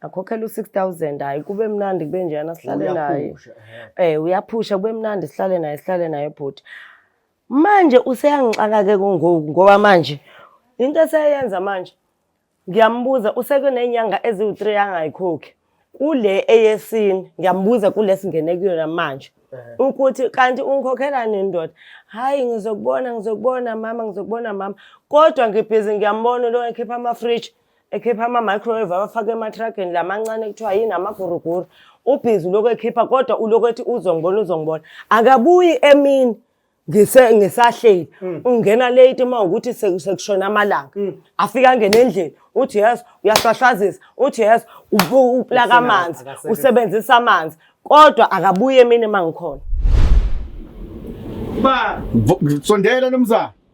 akhokhela u-six thousand hayi kube mnandi kube njena sihlale naye um eh, uyaphusha kube mnandi sihlale naye sihlale naye bhuti manje useyangixaka-ke kungoku ngoba manje into eseyenza manje ngiyambuza useke ney'nyanga eziwu-three angayikhokhi kule eyesini ngiyambuza kule singene kuyona manje ukuthi kanti ungikhokhelani ndoda hhayi ngizokubona ngizokubona mama ngizokubona mama kodwa ngibhizi ngiyambona lo ekhipha amafriji ekhipha ama-microwave abafake ematrageni la mancane kuthiwa yini amaguruguru ubhizi ulokhu ekhipha kodwa ulokhu ethi uzongibona uzongibona akabuyi emini ngisahleli mm. ungena late uma ukuthi sekushona amalanga mm. afika angene endlini uthi yes uyahlwahlwazisa uthi yes uplaka amanzi usebenzisa amanzi kodwa akabuye emini uma ngikhona ba sondela nomzana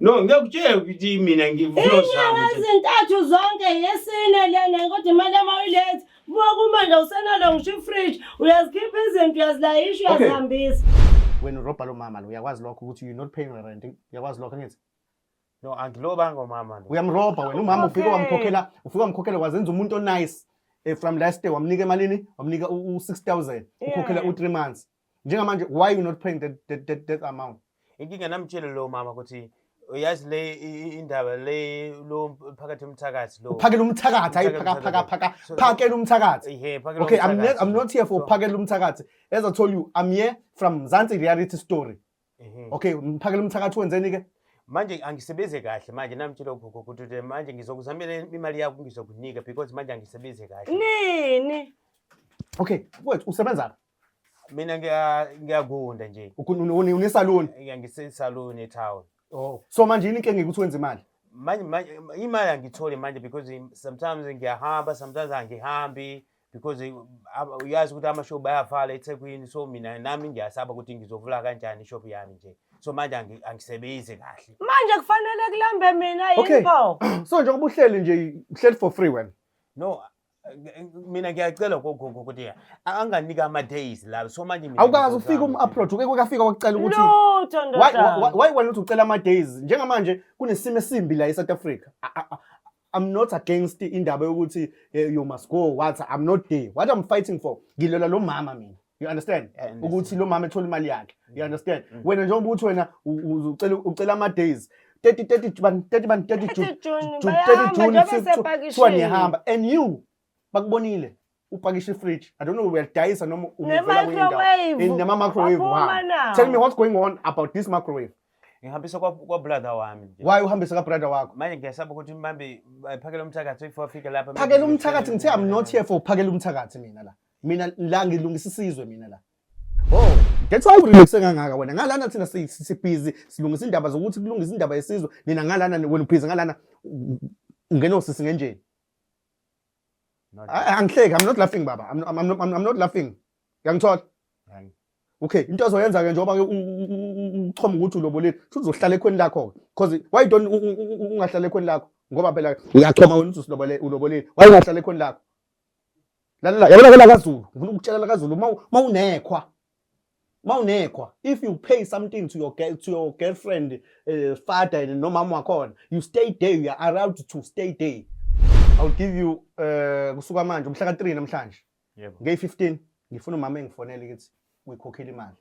No, ngiyakutshela ukuthi mina ngivulosama. Izintathu zonke yesine lena kodwa imali yami uyilethe. Buka kumanje usenalo ngisho ifridge, uyazikhipha izinto uyazilayisha uyazihambisa. Wena urobha lo mama lo uyakwazi lokho ukuthi you not paying rent. Uyakwazi lokho ngithi? No, angilobanga umama lo. Uyamrobha wena umama ufike wamkhokhela, ufike wamkhokhela wazenza umuntu onice. Eh, from last day wamnika emalini? Wamnika u-6000. Ukhokhela u3 months. njengamanje why you not paying that, that, that, that amount inkinga namtshele lowo mama ukuthi uyazi le indaba le lo phakathi umthakathi lo phakela umthakathi hayi phaka phaka phaka phakela umthakathi ehe phakela okay i'm not, i'm not here for phakela umthakathi as i told you i'm here from Mzansi reality story okay phakela umthakathi wenzeni ke manje angisebenze kahle manje namtshela ugogo ukuthi manje ngizokuzamela imali yakho ngizokunika because manje angisebenze kahle nini okay wethu usebenza Mina ngiyagunda nje. Unesaluni? Yeah, ngisesaluni etown. Oh. So manje yini inkinga ukuthi wenze imali? Manje manje imali angitholi manje because sometimes ngiyahamba, sometimes angihambi because eh, uyazi ukuthi amashop ayavala eThekwini so mina nami ngiyasaba ukuthi ngizovula kanjani ishop yami nje. So manje angisebenzi kahle. Manje kufanele kulambe mina yini pho? So njengoba uhleli nje uhleli for free wena. No, mina ngiyacela ukuthi anganike ama-days la so manje mina awukazi ufike ngizozama. um-upload uke kwekafika wakucela ukuthi lutho why- why- ndodana why wena uthi ucela ama-days njengamanje kunesimo esimbi la e-south africa I- I- I- i'm not against indaba yokuthi eh, you must go what i'm not there what i'm fighting for ngilola lo mama mina you understand ukuthi lo mama ethola imali yakhe you mm. understand mm. wena njengoba ukuthi wena ucela ucela ama days 30 30 ban 30 ban 30 June 30 June kuthiwa ngiyahamba and you bakubonile upakishe fridge i don't know uyadayisa noma umuvela kwindawo in nama microwave wami tell me what's going on about this microwave ngihambise kwa brother wami nje why uhambise ka brother wakho manje ngiyasaba ukuthi manje eh, phakela umthakathi if wafika lapha phakela umthakathi ngithe i'm not here for phakela umthakathi mina la mina la ngilungisa isizwe mina la oh that's why ulungise kangaka wena ngalana thina sibhizi silungisa indaba zokuthi kulungisa indaba yesizwe nina ngalana wena ubhizi ngalana ungena osisi ngenjeni angihleki i'm not laughing baba i'm, I'm, I'm, I'm not laughing uyangithola okay into azoyenza ke njengoba ke uchoma ukuthi ulobolile futhi uzohlala ekhweni lakho ke because why don't ungahlala ekhweni lakho ngoba phela uyachoma wena uthi usilobolile ulobolile why ungahlala ekhweni lakho lalela yabona ke lakazulu ngifuna ukutshela lakazulu uma unekhwa uma unekhwa if you pay something to your girl, to your girlfriend uh, father nomama wakhona you stay there you are allowed to stay there i will give you uh, kusuka manje umhla ka-3 namhlanje yebo yeah, ngey-15 ngifuna umama engifonele ukuthi uyikhokhela imali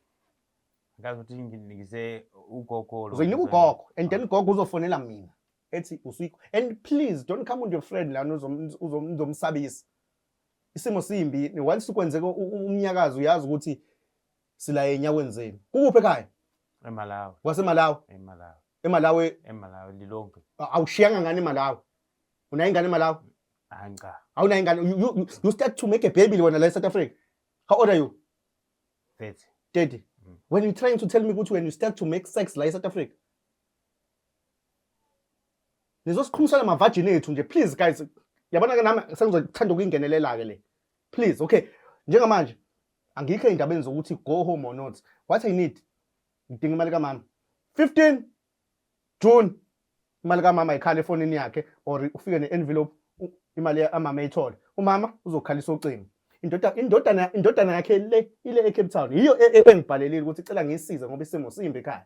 akazi ukuthi nginikise ugogo uzoyinika ugogo and then ugogo uzofonela mina ethi usuyikho and please don't come with your friend lana uzomsabisa isimo simbi once kwenzeka umnyakazi uyazi ukuthi sila enyaweni zenu kukuphi ekhaya emalawi wasemalawi emalawi emalawi emalawi lilonke awushiyanga ngani emalawi unayo ingane emalawi hayi cha awunayo ingane you, you start to make a baby wena la e-south africa how old are you 30 30 mm. when you trying to tell me ukuthi when you start to make sex la e-south africa lezo siqhumisana mavajini ethu nje please guys yabona ke nami sengizothanda ukuyingenelela ke le please okay njengamanje angikho endabeni zokuthi go home or not what i need ngidinga imali kamama 15 june imali kamama ikhala efonini yakhe or ufike ne-envelope imali amama eyithole umama uzokhalisa ucingo indoda indodana indodana yakhe le ile eCape Town yiyo e, e, engibhalelile ukuthi icela ngisize ngoba isimo simbi ekhaya